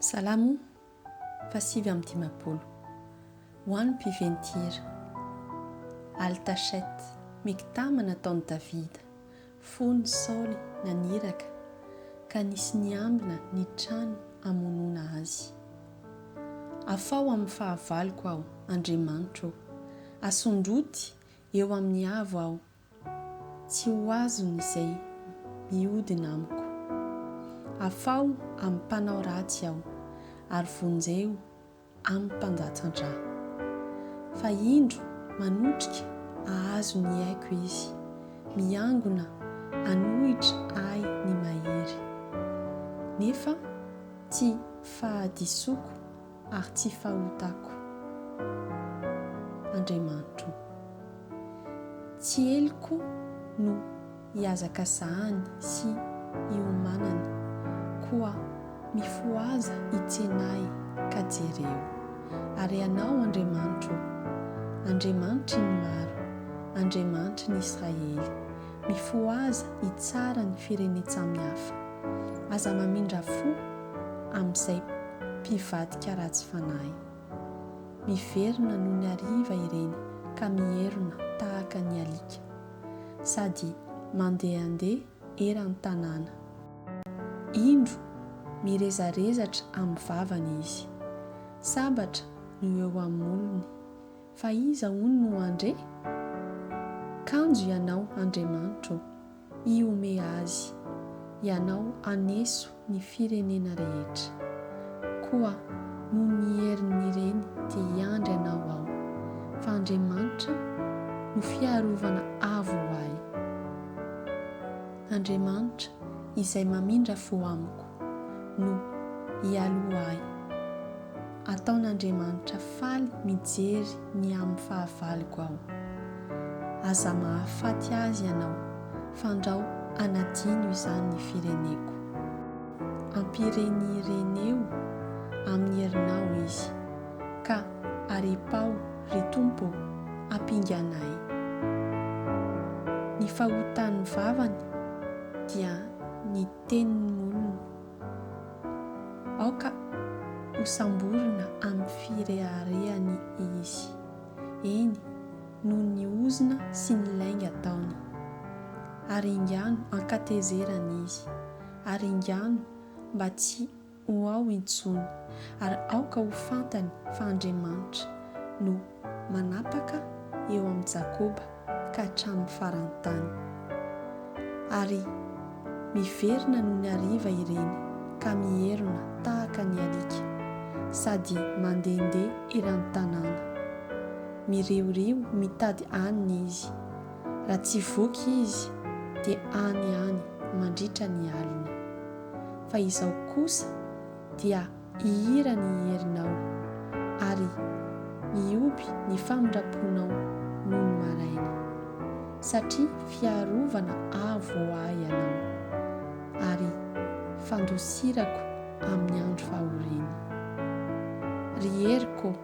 Salamo fahasivy amby dimampolo. Ho an'ny mpiventy-hira. Al Tachet, Miktama nataon'i Davida, fon'i Saoly naniraka ka nisy niambina ny trano amonoana azy. Afaho amin'ny fahavaloko aho, Andriamanitro ô, asondroty eo amin'ny avo aho Tsy ho azony izay mihodina amiko. Afaho amin'ny mpanao ratsy aho, ary vonjeo amin'ny mpandatsa-drà. Fa indro manotrika hahazo ny aiko izy, miangona hanohitra ahy ny mahery. Nefa tsy fahadisoako Ary tsy fahotako, Andriamanitro o. Tsy heloko no hihazakazahany sy hiomanany, koa mifohaza hitsena ahy ka jereo. Ary Ianao, Andriamanitro o, Andriamanitry ny maro, Andriamanitry ny Israely, mifohaza hitsara ny firenen-tsamihafa. Aza mamindra fo amin'izay mpivadika ratsy fanahy. Miverina noho ny hariva ireny ka mierona tahaka ny alika, sady mandehandeha eran'ny tanàna. Indro, mirezarezatra amin'ny vavany izy. Sabatra no eo amin'ny molony. Fa iza hono no handre? Kanjo Ianao, Andriamanitro ô! hihomeha azy, ianao haneso ny firenena rehetra. Koa noho ny herin'ireny dia hiandry anao aho, fa Andriamanitra no fiarovana avo ho ahy, Andriamanitra izay mamindra fo amiko. no hialoha ahy. Ataon'Andriamanitra faly mijery ny amin'ny fahavaloko aho. Aza mahafaty azy ianao, fandrao hanadino izany ny fireneko. Ampirenireneo amin'ny herinao izy, ka aripaho, ry Tompo ô, ampingana ahy. Ny fahotan'ny vavany dia ny. tenin'olona. Aoka hosamborina amin'ny fireharehany izy, eny, noho ny ozona sy ny lainga ataony. Aringano an-katezerana izy, aringano mba tsy ho ao intsony, ary aoka ho fantany fa Andriamanitra no manapaka eo amin'i Jakoba ka hatramin'ny faran'ny tany. Ary miverina noho ny hariva ireny ka mierona tahaka ny alika, sady mandehandeha eran'ny tanàna. Miriorio mitady hanina izy. Raha tsy voky izy, dia any ihany mandritra ny alina. fa izao kosa dia hihira ny herinao, ary hihoby ny famindram-ponao nony maraina. Satria fiarovana avo ho ahy ianao, ary fandosirako amin'ny andro fahoriana. Ry heriko ô,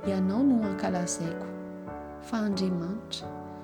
ianao no ankalazaiko, fa Andriamanitra,